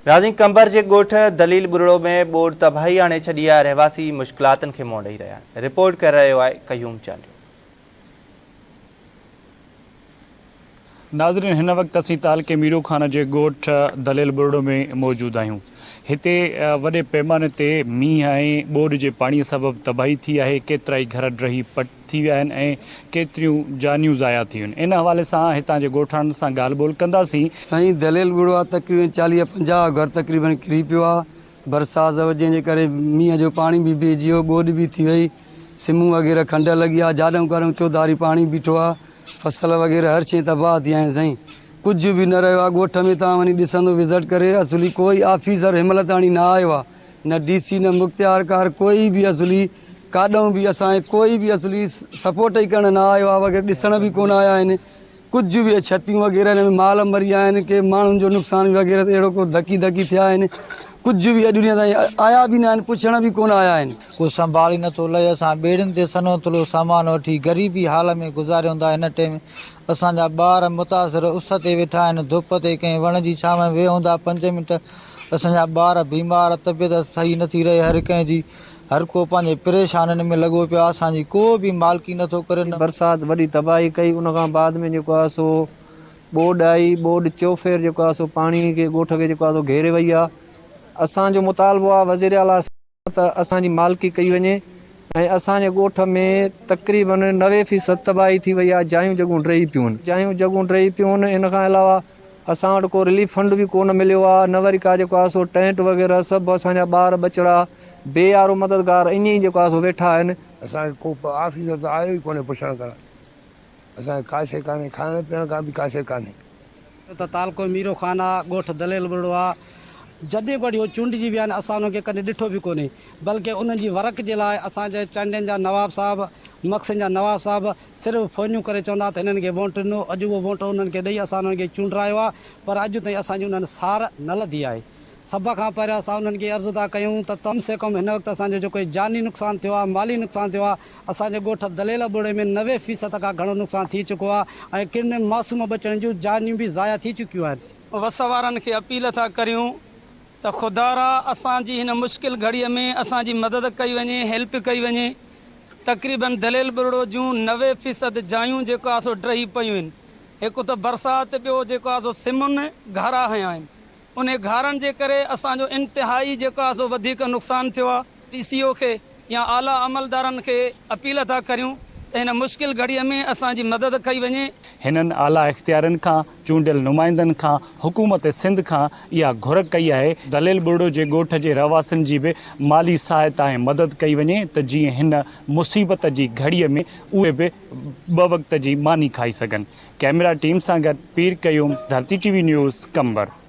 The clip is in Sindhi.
رازين قنبر جي ڳوٺ دليل ٻرڙو ۾ ٻوڏ تباهي آڻي ڇڏي آهي، رهواسي مشڪلاتن کي منهن ڏئي رهيا آهن، رپورٽ ڪري رهيو آهي قيوم چانڊيو. ناظرين هن وقت اسين تعلقي ميرو خان جي ڳوٺ دليل ٻرڙو ۾ موجود آهيون هتي وڏي پيماني تي مينهن ۽ ٻوڏ جي پاڻي سبب تباهي ٿي آهي ڪيترائي گهر ڊهي پٽ ٿي ويا آهن ۽ ڪيتريون جانيون ضايع ٿيون ان حوالي سان هتان جي ڳوٺاڻن سان ڳالهه ٻولهه ڪنداسين. سائين دليل ٻڙوا تقريبن چاليهه پنجاهه گهر تقريبن ڪري پيو آ برساز جنهن جي ڪري مينهن جو پاڻي به بيهجي ويو ٻوڏ به ٿي وئي سمون وغيره کنڊ لڳي آ جاڏئون ڪارئون چوڌاري پاڻي بيٺو آ فصل وغيره هر شئي تباهه ٿي آهن سائين ڪجهه به نه رهيو آ ڳوٺ ۾ توهان وڃي ڏسندو وزٽ ڪري اصلي ڪوئي آفيسر هنمهل تاڻي نه آيو آ. نه ڊي سي نه مختيار ڪار ڪوئي به عضلي ڪاڏهن به اسان کي ڪوئي به عضلي سپورٽ ئي ڪرڻ نه آيو آهي وغيره ڏسڻ به ڪونه آيا آهن ڪجهه به اهي ڇتيون وغيره هن ۾ مال مريا آهن ڪي ماڻهن جو نقصان به وغيره اهڙو ڪو ڌڪي ڌڪي ٿيا آهن ڪجهه به اڄ ڏينهن تائين آيا به نه آهن پڇڻ به ڪونه آيا آهن. ڪو سنڀالي نٿو لهي اسان ٻيڙين تي سنهو ٿلهو سامان وٺي غريبي حال ۾ گذاريون ٿا هن ٽيم اسان جا ٻار متاثر اس تي ويٺا آهن، ڌپ تي ڪنهن وڻ جي ڇانو ۾ ويهون ٿا، پنج منٽ اسان جا ٻار بيمار، طبيعت صحيح نٿي رهي، هر ڪنهن جي هر ڪو پنهنجي پريشانين ۾ لڳو پيو آهي، اسان جي ڪو به مالڪي نٿو ڪري نه. برسات وڏي تباهي ڪئي ان کان بعد ۾ جيڪو آهي سو ٻوڏ آئي، ٻوڏ چوڦير جيڪو آهي سو پاڻي کي ڳوٺ کي جيڪو آهي سو گهيري وئي آهي، اسان جو مطالبو آهي وزيراعليٰ صاحب. ته اسان جي مالڪي ڪئي وڃي ۽ اسان جي ڳوٺ ۾ تقريباً نوي فيصد تباهي ٿي وئي آهي، جايون جڳهون ڊهي پيون. جايون جڳهون ڊهي پيون، ان کان علاوه اسان وٽ ڪو رليف فنڊ به ڪونه مليو آهي، نه وري ڪا جيڪو آهي سو ٽينٽ وغيره سڀ اسان جا ٻار ٻچڙا، بي يارو مددگار ائين ئي جيڪو آهي سو ويٺا آهن. اسان کي ڪو آفيسر ته آيو ئي ڪونهي پڇڻ ڪرڻ، اسان کي ڪا شيء ڪانهي، کائڻ پيئڻ کان به ڪا شيء ڪانهي. ڇو ته تعلقو ميرو خان آ، ڳوٺ دليل ٻرڙو آ. جڏهن کان وٺي هو چونڊجي ويا آهن، اسان انهن کي ڪڏهن ڏٺو به ڪونهي، بلڪه انهن جي ورق جي لاء اسان جي چانڊين جا نواب صاحب، مگسين جا نواب صاحب صرف فونيون ڪري چوندا ها ته هنن کي ووٽ ڏنو، اڄ اهو ووٽ انهن کي ڏئي اسان انهن کي چونڊرايو آ، پر اڄ تائين اسان جي انهن سار نه لڌي آهي. سڀ کان پهريان اسان انهن کي عرض ٿا ڪيون ته ڪم سي ڪم هن وقت اسان جو جيڪو هي جاني نقصان ٿيو آهي، مالي نقصان ٿيو آهي، اسان جي ڳوٺ دليل ابوڙي ۾ نوي فيصد کان گهڻو نقصان ٿي چڪو آهي ۽ ڪن معصوم ٻچڙن جون جانيون به ضايع ٿي چڪيون آهن. وس وارن کي اپيل ٿا ڪريون ته خدارا اسان جي هن مشڪل گهڙي ۾ اسان جي مدد ڪئي وڃي، هيلپ ڪئي وڃي، تقريبن دليل ٻرڙو جون نوي فيصد جايون جيڪو آهي سو ڊهي پيون آهن، هڪ ته برسات ٻيو جيڪو آهي سو سمن گهارا هنيا آهن، انهي گهارن جي ڪري اسان جو انتهائي جيڪو آهي سو وڌيڪ نقصان ٿيو آهي، ڊي سي او کي يا اعليٰ عملدارن کي اپيل ٿا ڪريون ته هن مشڪل گهڙي ۾ اسان جي مدد ڪئي وڃي. هنن اعليٰ اختيارين کان، چونڊيل نمائندن کان، حڪومت سنڌ کان اها گهر ڪئي آهي دليل ٻرڙو جي ڳوٺ جي رهواسين جي به مالي سهائتا ۽ مدد ڪئي وڃي ته جيئن هن مصيبت جي گهڙي ۾ اهي به ٻه وقت جي ماني کائي سگهن. ڪئميرا ٽيم سان گڏ Pir Qayyum, Dharti T V news, Qambar.